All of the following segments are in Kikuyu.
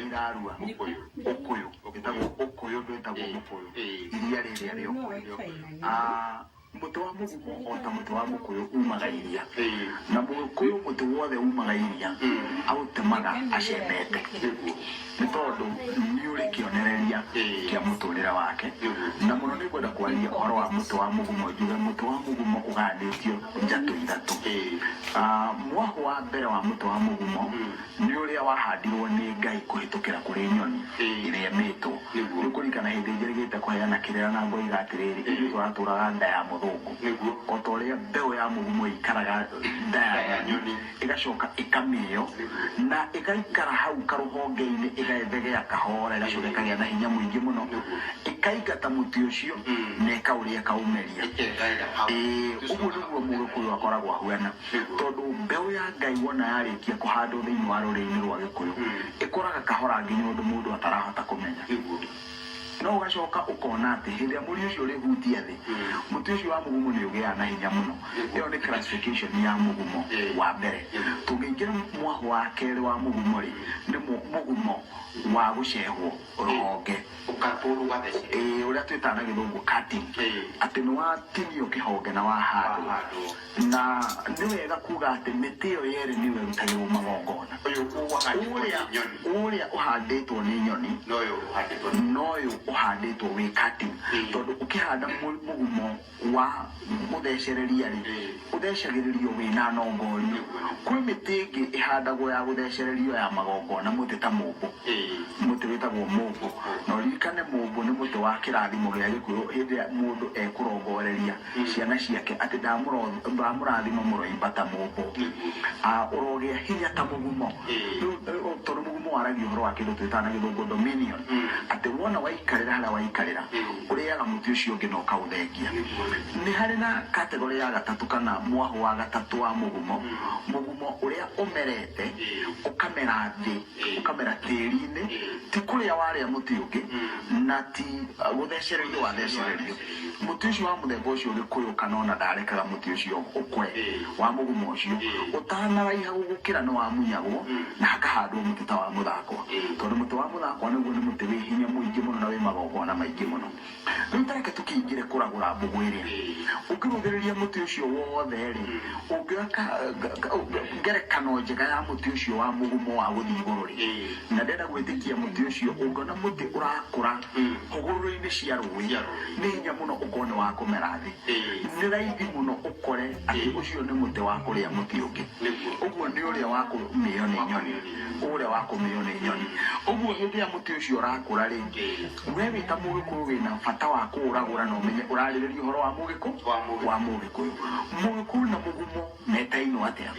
irarua Ũkũyũ. ũkũyũ ĩtagwo ũkũyũ ndwĩtagwo Eh, mũkũyũ eh. iria rĩrĩa rĩa ũkũyũ Ah, mũtĩ wa mũgumo o ta mũtĩ wa mũkũyũ umaga iria Eh. na mũkũyũ mũtĩ wothe umaga iria aũtemaga acemete Nĩguo. nĩ tondũ nĩ ũrĩ kĩonereria Eh. kĩa mũtũrĩre wake Mhm. na mũno nĩ ngwenda kwaria ũhoro wa mũtĩ wa mũgumo njuge mũtĩ wa mũgumo ũgayanĩtio njatũ ithatũ Eh. Ah, mwahũ wa mbere wa mũtĩ wa mũgumo Nĩ ũrĩa wahandirwo nĩ Ngai kũhĩtũkĩra kũrĩ nyoni ĩrĩa ĩmĩtwo. Rĩu kũririkana hĩndĩ njĩrĩgĩte kũheana kĩrĩra na ngoiga atĩrĩrĩ, ithuĩ tũratũũraga nda ya mũthũngũ. O ta ũrĩa mbeũ ya mũgumo ĩikaraga nda ya nyoni, ĩgacoka ĩkamĩĩo, na ĩgaikara hau karũhonge-inĩ ĩgethegea kahoora, ĩgacoka ĩkagĩa na hinya mũingĩ mũno, ĩkaingata mũtĩ ũcio na ĩkaũrĩa ĩkaũmeria. Ĩĩ, ũguo nĩguo Mũgĩkũyũ akoragwo ahuana. Tondũ mbeũ ya Ngai wona yarĩkia kũhandwo thĩinĩ wa rũrĩrĩ-inĩ rwa Gĩkũyũ, ĩkũraga kahora nginya ũndũ mũndũ atarahota kũmenya. No ũgacoka ũkona atĩ hĩndĩ ĩrĩa mũri ũcio ũrĩhutia thĩ, mũtĩ ũcio wa mũgumo nĩ ũgĩaga na hinya mũno. Ĩyo nĩ classification ya mũgumo wa mbere. Tũngĩingĩra mwahũ wa kerĩ wa mũgumo-rĩ, nĩ mũgumo wa gũcehwo rũhonge, ũrĩa twĩtaga na Gĩthũngũ cutting, atĩ nĩ watinio kĩhonge na wahandwo. Na nĩ wega kuuga atĩ mĩtĩ ĩyo yerĩ nĩyo ĩrutagĩrũo magongona. Ũrĩa ũhandĩtwo nĩ nyoni na ũyũ ũhandĩtwo wĩ cutting. Tondũ ũkĩhanda mũgumo wa gũthecereria-rĩ, ũthecagĩrĩrio wĩ na nongoria. Kwĩ mĩtĩ ĩngĩ ĩhandagwo ya gũthecererio ya magongona, mũtĩ ta mũmbũ, mũtĩ wĩtagwo mũmbũ. Na ũririkane mũmbũ nĩ mũtĩ wa kĩrathimo gĩa Gĩkũyũ hĩndĩ ĩrĩa mũndũ ekũrongoreria ciana ciake atĩ ndamũro- ndamũrathima mũroimba ta mũmbo Ah, ũrogĩa hinya ta mũgumo Rĩu, eh, o- tondũ mũgumo waragia ũhoro wa kĩndũ twĩtaga na gĩthũngũ dominion atĩ wona waikarĩra harĩa waikarĩra ũrĩaga mũtĩ ũcio ũngĩ na ũkaũthengia nĩ harĩ na kategorĩ ya gatatũ kana mwahũ wa gatatũ wa mũgumo mũgumo ũrĩa ũmerete ũkamera thĩ ũkamera tĩri-inĩ ti kũrĩa warĩa mũtĩ ũngĩ na ti uh, gũthecererio wathecererio mũtĩ ũcio wa mũthemba ũcio gĩkũyũ kana ona ndarekaga mũtĩ ũcio ũkwe wa mũgũma ũcio ũtanaraiha gũgũkĩra nĩ wamunyagwo na hakahandwo mũtĩ ta wa mũthakwa tondũ mũtĩ wa mũthakwa naguo nĩ mũtĩ wĩ hinya mũingĩ mũno na wĩ magongona maingĩ mũno Rĩu ta reke tũkĩingĩre kũragũra mbũgũ ĩrĩ-rĩ, ũngĩrũthĩrĩria mũtĩ ũcio wothe-rĩ, ũngĩoya ka- ka- ka- ũngĩ- ngerekano njega ya mũtĩ ũcio wa mũgumo wa gũthiĩ igũrũ-rĩ, na ndenda gwĩtĩkia mũtĩ ũcio, ũngĩona mũtĩ ũrakũra hũgũrũrũ-inĩ cia rũĩ, Cia rũĩ. nĩ hinya mũno ũkorwo nĩ wa kũmera thĩ. Nĩ raithi mũno ũkore atĩ ũcio nĩ mũtĩ wa kũrĩa mũtĩ ũngĩ. Nĩguo. Ũguo nĩ ũrĩa wa kũmĩo nĩ nyoni, ũrĩa wa kũmĩo nĩ nyoni. Ũguo hĩndĩ ĩrĩa mũtĩ ũcio ũrakũra-rĩ, Wee wĩ ta Mũgĩkũyũ wĩ na bata wa kũũragũra na ũmenye ũrarĩrĩria ũhoro wa Mũgĩkũ Wa Mũgĩkũyũ. wa Mũgĩkũyũ. Mũgĩkũyũ na mũgumo metainwo atĩa?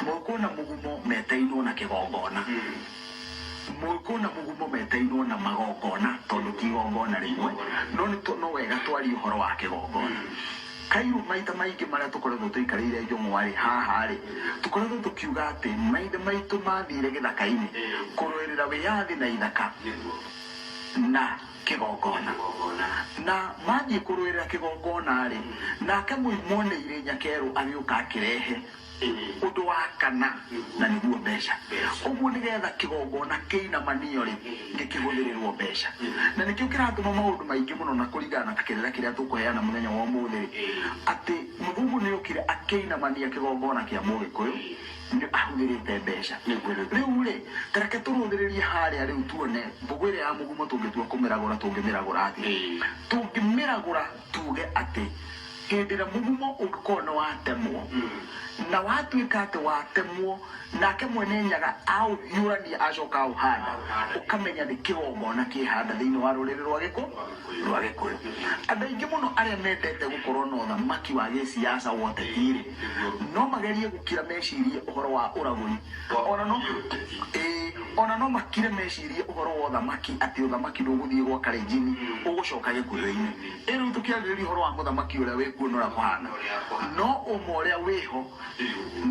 Mũgĩkũyũ na mũgumo metainwo na kĩgongona. Mũgĩkũyũ na mũgumo metainwo na magongona tondũ ti igongona rĩmwe no nĩ tũ- no wega twarie ũhoro wa kĩgongona. Kairũ maita maingĩ marĩa tũkoretwo tũikarĩire njũng'wa-rĩ, haha-rĩ, tũkoretwo tũkiuga atĩ maithe maitũ mathire gĩthaka-inĩ kũrũĩrĩra wĩyathi na ithaka na kĩgongona. Na mathiĩ kũrũĩrĩra kĩgongona-rĩ, nake mũimwo nĩ irĩ nyakerũ agĩũka akĩrehe. Ũndũ wa kana, na nĩguo mbeca. Ũguo nĩ getha kĩgongona kĩinamanio-rĩ, gĩkĩhũthĩrĩrũo mbeca. Na nĩkĩo kĩratũma maũndũ maingĩ mũno, na kũringana na ta kĩrĩra kĩrĩa tũkũheana mũthenya wa ũmũthĩ-rĩ, atĩ mũthũngũ nĩ okire akĩinamania kĩgongona kĩa Mũgĩkũyũ, nĩ ahũthĩrĩte mbeca. Rĩu-rĩ, ta reke tũrũthĩrĩrie harĩa rĩu tuone mbũgũ ĩrĩa ya mũgumo tũngĩtua kũmĩragũra tũngĩmĩragũra atĩa. Tũngĩmĩragũra Tuuge atĩ hĩndĩ ĩrĩa mũgumo ũngĩkorwo nĩ watemwo, na watuĩka atĩ watemwo, nake mwene nyaga aũhiũrania acoka aũhanda, ũkamenya nĩ kĩgongona kĩhanda thĩinĩ wa rũrĩrĩ rwa gĩkũ, rwa gĩkũyũ. Andũ aingĩ mũno arĩa mendete gũkorwo na ũthamaki wa gĩciaca wa ũteti-rĩ, no magerie gũkira mecirie ũhoro wa ũragũri ona no ĩĩ, ona no makire mecirie ũhoro wa ũthamaki atĩ ũthamaki ndũgũthiĩ gwa karĩnjini ũgũcoka gĩkuhĩ-inĩ ĩ rĩu tũkĩarĩrĩria ũhoro wa mũthamaki ũrĩa wĩ kuo na ũrĩa kũhana no ũma ũrĩa wĩho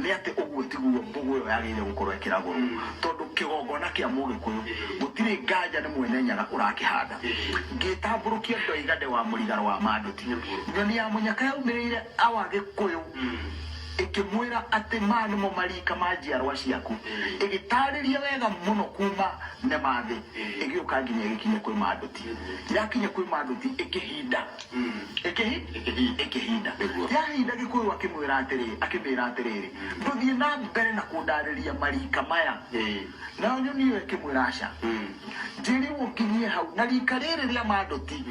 nĩ atĩ ũguo tiguo mbũgũ ĩyo yagĩrĩire gũkorwo ĩkĩragũrwo tondũ kĩgongona kĩa mũgĩkũyũ gũtirĩ nganja nĩ mwene nyaga ũrakĩhanda ngĩtambũrũkia ndoiga nde wa mũrigaro wa manduti nyoni ya mũnyaka yaumĩrĩire Awa Gĩkũyũ ĩkĩmwĩra atĩ maya nĩmo mariika ma njiarwa ciaku, ĩgĩtaarĩria wega mũno kuuma Nemathĩ ĩgĩũka nginya ĩgĩkinya kwĩ Manduti. Yakinya kwĩ Manduti ĩkĩhinda. Ĩkĩhi? Ĩkĩhinda. Yahinda Gĩkũyũ akĩmwĩra atĩrĩ, akĩmĩĩra atĩrĩrĩ, ndũthiĩ na mbere na kũndaarĩria mariika maya. Nayo nyoni ĩyo ĩkĩmwĩra, aca, njĩĩrirwo nginyie hau, na riika rĩĩrĩ rĩa Manduti.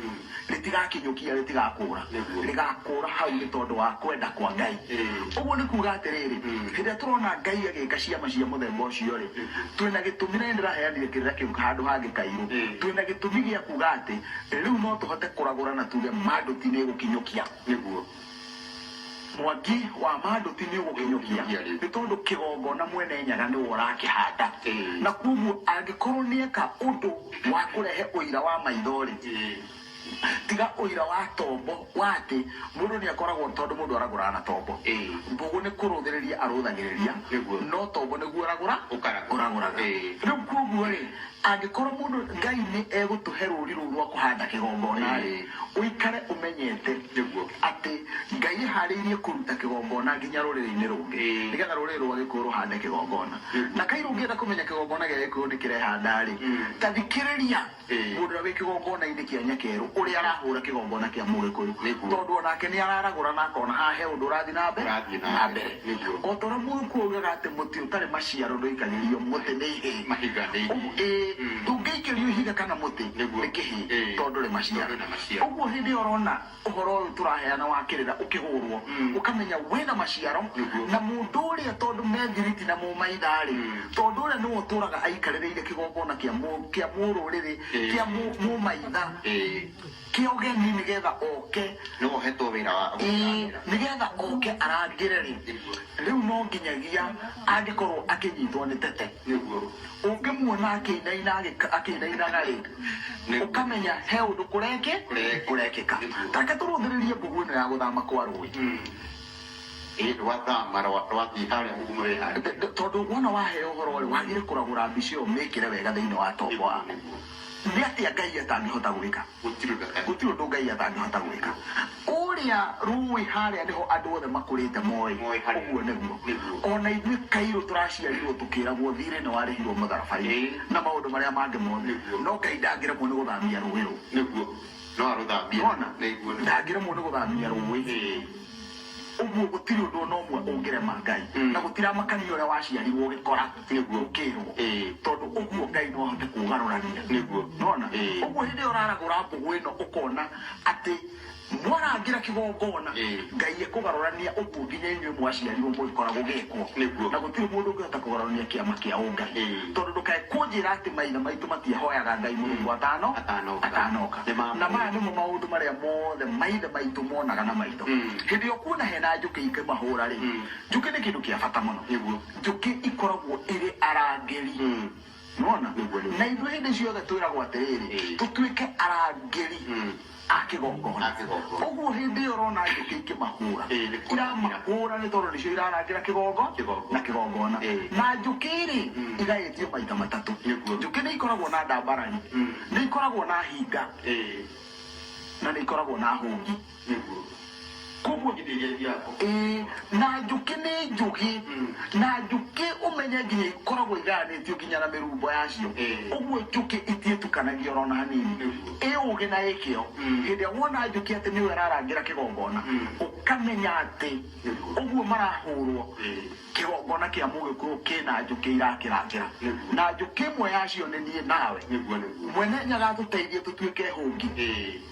rĩtigakinyũkia rĩtigakũũra rĩgakũũra hau nĩ tondũ wa kwenda kwa ngai ũguo nĩ kuga atĩrĩrĩ hĩndĩ ĩrĩa tũrona ngai agĩka ciama cia mũthemba ũcio rĩ twĩna gĩtũmi na nĩ ndĩraheanire kĩrĩra kĩu handũ hangĩ kairũ twĩna gĩtũmi gĩa kuga atĩ rĩu no tũhote kũragũra na tuge mandũ ti nĩ ĩgũkinyũkia nĩguo Mwaki wa manduti nĩũgũkĩnyokia, nĩ tondũ kĩgongona mwene nyaga nĩwe ũrakĩhanda. Na kwoguo angĩkorwo nĩeka ũndũ wa kũrehe ũira wa maitho-rĩ, tiga ũira wa tombo wa atĩ mũndũ nĩakoragwo, tondũ mũndũ aragũraga na tombo, mbũgũ nĩ kũrũthĩrĩria arũthagĩrĩria, no tombo nĩguo ũragũra ũragũraga. Rĩu kwoguo-rĩ. Angĩkorwo mũndũ, Ngai nĩ egũtũhe rũũri rũu rwa kũhanda kĩgongona-rĩ, ũikare ũmenyete Nĩguo. atĩ Ngai ehaarĩirie kũruta kĩgongona nginya rũrĩrĩ-inĩ rũngĩ, nĩgetha rũrĩrĩ rwa Gĩkũyũ rũhande kĩgongona. Na kaĩ rũngĩenda kũmenya kĩgongona gĩa Gĩkũyũ nĩ kĩrehanda-rĩ, ta thikĩrĩria mũndũ ũrĩa wĩ kĩgongona-inĩ kĩa Nyakeerũ ũrĩa arahũũra kĩgongona kĩa Mũgĩkũyũ, Nĩguo. tondũ o nake nĩ araragũra na akona haha he ũndũ ũrathiĩ na mbe, Ũrathiĩ na na mbere. mbere. O ta ũrĩa Mũrukũ oigaga atĩ mũtĩ ũtarĩ maciaro ndũikagĩrio mũtĩ nĩ ihĩ, Mahiga nĩ ũguo, ihĩ. ĩĩ, Mm. ndũngĩikĩrio ihiga kana mũtĩ Nĩguo. nĩ kĩhĩ, Ĩĩ. tondũ ndũrĩ maciaro. Tondũ ndũrĩ maciaro. Ũguo hĩndĩ ĩyo ũrona ũhoro ũyũ tũraheana wa kĩrĩra ũkĩhũrwo, Mm. ũkamenya wĩ na maciaro, Nĩguo. na mũndũ ũrĩa tondũ me thiriti na mũmaitha-rĩ, Mm. tondũ ũrĩa nĩwe ũtũũraga aikarĩrĩire kĩgongona kĩa mũ- kĩa mũrũrĩrĩ, Ĩĩ. kĩa mũ- mũmaitha. Ĩĩ. Kĩa ũgeni nĩ getha oke. Nĩ we ũhetwo wĩra wa gũkĩrangĩra. Nĩ getha oke arangĩre rĩ, rĩu no nginyagia angĩkorwo akĩnyitwo nĩ tete. Nĩguo. Ũngĩmuona akĩinaina agĩka- akĩinainaga rĩ, Nĩguo. ũkamenya he ũndũ kũreki Kũreki. kũrekĩka. Nĩguo. Ta reke tũrũthĩrĩrie ngũgũ ĩno ya gũthama kwa rũĩ. Ĩ rwathama rwa- rwathiĩ harĩa ũgumu wĩ harĩa. T- t- Tondũ wona waheo ũhoro rĩ, wagĩrĩire kũragũra mbica ĩyo ũmĩkĩre wega thĩinĩ wa tombo waku. Nĩguo. nĩ atĩa ngai atangĩhota gwĩka gũtirĩ ũndũ atangĩka. gũtirĩ ũndũ ngai atangĩhota gwĩka kũrĩa rũĩ harĩa nĩho andũ othe makũrĩte moĩ Moĩ harĩa. ũguo nĩguo Nĩguo. ona ithuĩ kairũ tũraciarirwo tũkĩragwo thirĩ nĩ warĩhirwo mũtharaba-inĩ Ĩĩ. na maũndũ marĩa mangĩ mothe Nĩguo. no ngai ndangĩremwo nĩ gũthamia rũĩ rũu nĩguo no arũthambie Nĩwona? na iguo nĩ ndangĩremwo nĩ gũthamia rũĩ Ĩĩ. ũguo gũtirĩ ũndũ ona ũmwe ũngĩrema ngai Mm. na gũtiramakania ũrĩa waciarirwo ũgĩkora Nĩguo. ũkĩrwo Ĩĩ. tondũ ũguo ngai no ahote kũgarũrania Nĩguo. nona Ĩĩ. ũguo hĩndĩ ĩyo ũraragũra mbũgũ ĩno ũkona atĩ mwarangĩra kĩgongona Ĩĩ. ngai ekũgarũrania ũguo nginya inyuĩ mwaciarirwo mũgĩkora gũgĩkwo Nĩguo. na gũtirĩ mũndũ ũngĩhota kũgarũrania kĩama kĩa ũngai Ĩĩ. Tondũ ndũkae kũnjĩra atĩ maithe maitũ matiahoyaga Ngai mũthenya wa tano atanoka. Na maya nĩmo maũndũ marĩa mothe maithe maitũ monaga na maitho. Hĩndĩ ĩrĩa ũkuona he na njũkĩ ikĩmahũra-rĩ, njũkĩ nĩ kĩndũ kĩa bata mũno. Njũkĩ ikoragwo irĩ arangĩri. Nĩwona? Na ithuĩ hĩndĩ ciothe twĩragwo atĩrĩrĩ, tũtuĩke arangĩri. a kĩgongona A kĩgongona. ũguo hĩndĩ ĩyo ũrona njũkĩ ikĩmahũra Ĩĩ, nĩ kũrangĩra. iramahũra nĩ tondũ nĩcio irarangĩra kĩgongo Kĩgongo. na kĩgongona Ĩĩ. na njũkĩ-rĩ igaĩtio maita matatũ Nĩguo. njũkĩ nĩ ikoragwo na ndambarari nĩ ikoragwo na hinga Ĩĩ, na nĩ ikoragwo na hũngi nĩguo. koguo ĩĩ na njũkĩ nĩ njũgĩ na njũkĩ ũmenye nginya ikoragwo igayanĩtio nginya na mĩrumbo yacio ũguo njũkĩ itiĩtukanagia ona ona hanini ĩ ũgĩ na ĩ kĩo hĩndĩ ĩrĩa wona njũkĩ atĩ nĩyo ĩrarangĩra kĩgongona ũkamenya atĩ ũguo marahũrwo kĩgongona kĩa mũgĩkũyũ kĩna njũkĩ irakĩrangĩra na njũkĩ ĩmwe yacio nĩ niĩ nawe mwene nyagatũteithie tũtuĩke hũngi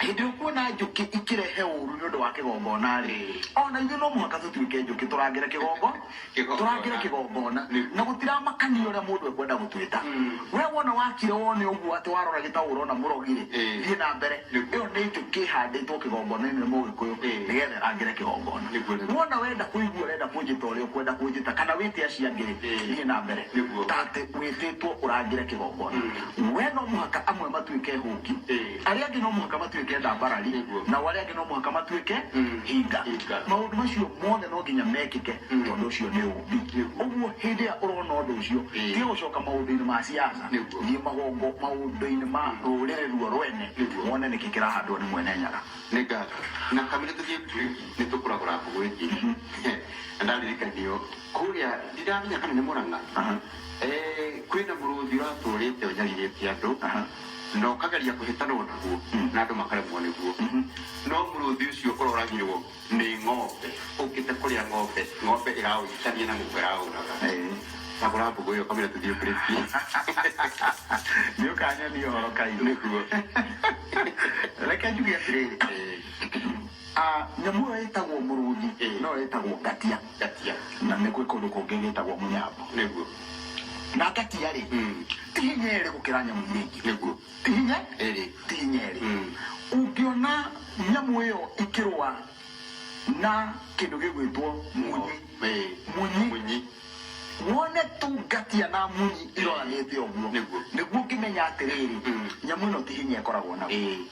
Hĩndĩ ũkuona njũkĩ ikĩrehe ũũru nĩ ũndũ wa kĩgongona-rĩ, o na ithuĩ no mũhaka tũtuĩke njũkĩ, tũrangĩre kĩgongo, Kĩgongona. tũrangĩre kĩgongona, Nĩguo. na gũtiramakania ũrĩa mũndũ ekwenda gũtwĩta. We wona wakire wone ũguo atĩ warora gĩtaũ ũrona mũrogi-rĩ, Ĩĩ. thiĩ na mbere. Nĩguo. Ĩyo nĩ njũkĩ ĩhandĩtwo kĩgongona-inĩ nĩ Mũgĩkũyũ, Ĩĩ. nĩgetha ĩrangĩre kĩgongona. Nĩguo, nĩguo. Wona wenda kũigua ũrenda kũnjĩta ũrĩa ũkwenda kũnjĩta, kana wĩte acio angĩ-rĩ, Ĩĩ. thiĩ na mbere. Nĩguo. Ta atĩ wĩtĩtwo ũrangĩre kĩgongona. we no mũhaka amwe matuĩke hũngi Eh. arĩa angĩ no mũhaka matuĩke ndambarari Nĩguo. nao arĩa angĩ no mũhaka matuĩke Mm. hinga Hinga. maũndũ macio mothe no nginya mekĩke Mm. tondũ ũcio nĩ ũmbi Nĩguo. ũguo hĩndĩ ĩrĩa ũrona ũndũ ũcio Eh. tiga gũcoka maũndũ-inĩ ma siasa Nĩguo. thiĩ magongo maũndũ-inĩ ma rũrĩrĩ ruo rwene Nĩguo. wone nĩkĩ kĩrahandwo nĩ mwene nyaga nä ngatho na kamä tå nä tå kå ragå rangå gwä kä na ndaririkanio kå rä a ndirathenya kana nä må rana Aha. Ee, kwĩ na mũrũthi ũratũũrĩte ũnyarirĩtie andũ na ũkageria kũhĩtanwo naguo na andũ makaremwo nĩguo no mũrũthi ũcio ũroragirwo nĩ ng'ombe ũkĩte kũrĩa ng'ombe ng'ombe ĩraũhĩtania na mũndũ ĩraũraga cagũra mbũgũ ĩyo kamũira tũthiĩ kũrĩkia nĩ ũkanyonia ũhoro kairũ nĩguo reke njuge atĩrĩrĩ nyamũ ĩyo ĩtagwo mũrũthi no yo ĩtagwo ngatia Ngatia. Na nĩ gwĩ kũndũ kũngĩ gĩtagwo mũnyambo. Nĩguo. Na ngatia-rĩ, ti hinya erĩ gũkĩra nyamũ iria ingĩ. Nĩguo. Ti hinya erĩ. Ti hinya erĩ. Ũngĩona nyamũ ĩyo ĩkĩrũa na kĩndũ gĩgwĩtwo munyi, munyi, wone tu ngatia na munyi iroranĩte ũguo, nĩguo ũngĩmenya atĩrĩrĩ, nyamũ ĩno ti hinya ĩkoragwo naguo.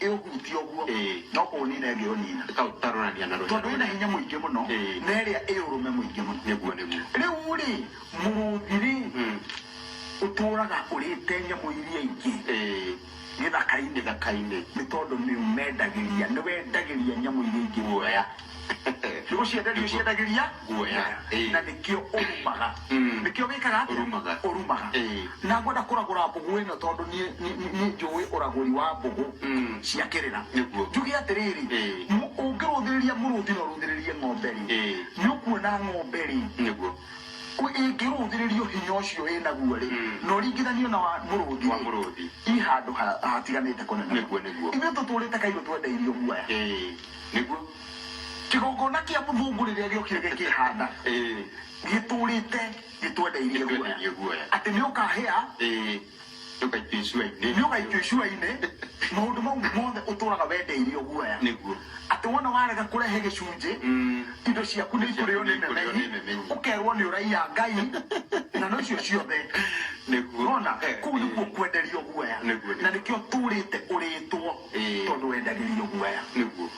ĩũhutie ũguo Ĩĩ. no kũũnina ĩngĩũnina Reka gũtarũrania na rũhĩa tondũ ĩna rũnene. hinya mũingĩ mũno Ĩĩ. na ĩrĩa ĩ ũrũme mũingĩ mũno Nĩguo, nĩguo. rĩu rĩ mũrũthi rĩ Mm. ũtũraga ũrĩte nyamũ iria ingĩ Ĩĩ. gĩthaka-inĩ Gĩthaka-inĩ. nĩ tondũ nĩ ũmendagĩria nĩ wendagĩria nyamũ iria ingĩ guoya nĩ gũcienda nĩ ũciendagĩria Guoya, ĩĩ. na nĩkĩo ũrumaga Mm. nĩkĩo wĩkaga atĩa? Ũrumaga. ũrumaga Ĩĩ. na ngwenda kũragũra mbũgũ ĩno tondũ niĩ- niĩ niĩ- niĩ njũĩ ũragũri wa mbũgũ Mm. cia kĩrĩra Nĩguo. njuge atĩrĩrĩ Ĩĩ. mũ- ũngĩrũthĩrĩria mũrũthi na ũrũthĩrĩrie ng'ombe rĩ Ĩĩ. nĩ ũkuona ng'ombe rĩ nĩguo ũ- ĩngĩrũthĩrĩrio hinya ũcio ĩnaguo rĩ Mm. na ũringithanio na wa mũrũthi Wa rĩ, mũrũthi. i handũ ha- hatiganĩte kũnene Nĩguo, nĩguo. ithuĩ tũtũrĩte kairũ twendeirio guoya Ĩĩ. nĩguo kĩgongona kĩa mũthũngũ rĩrĩa gĩokire gĩkĩhanda ĩĩ gĩtũrĩte gĩtwendeirie guoya gĩtwendeirie guoya atĩ nĩ ũkahĩa ĩĩ ndũgaikio icuainĩ nĩ ũgaikio icuainĩ maũndũ mau mothe ũtũraga wendeirio guoya nĩguo atĩ wona warega kũrehe gĩcunjĩ Mm. indo ciaku nĩ ikũrĩo nĩ Ikũrĩo nĩ memenyi memenyi. ũkerwo nĩ ũraiya ngai ng'ano icio ciothe nĩguo rona Eh, kuu ĩĩ. nĩkuo kwenderio guoya Nĩguo, nĩguo. na nĩkĩo tũrĩte ũrĩtwo Ĩĩ. tondå wendagä rio guoya nĩguo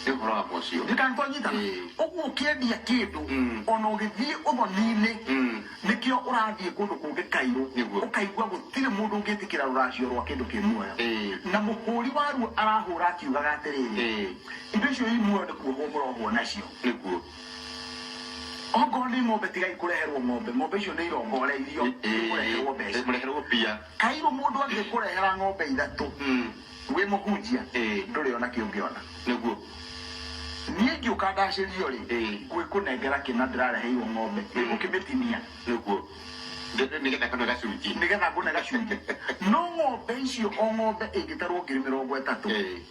nĩ ũhoro wa mocio ndikanĩkwa nyitana Ĩĩ. ũguo ũkĩendia kĩndũ Mm. ona ũgĩthiĩ ũthoni-inĩ Mm. nĩkĩo ũrathiĩ kũndũ kũngĩ kairũ Nĩguo. ũkaigua gũtirĩ mũndũ ũngĩtĩkĩra rũracio rwa kĩndũ kĩ muoyo Ĩĩ. na mũhũri waruo arahũra akiugaga atĩrĩrĩ Ĩĩ. indo icio i muoyo nĩ kuohwo mũrohwo nacio nĩguo ongorwo nĩ ng'ombe tigai kũreherwo ng'ombe ng'ombe icio nĩ irongore irio Ĩĩ. ikũreherwo mbeca mũreherwo mbia Kairu mundu angikurehera ng'ombe ithatu wi muhunjia nduri ona ki ungiona. Niguo. Nie ngiuka ndacirio ri ngwikunengera kina ndirareheirwo ng'ombe ri ngukimitinia. Niguo. Nigetha ngone gacunji. Nigetha ngone gacunji. No ng'ombe icio o ng'ombe ingitarwo ngiri mirongo itatu.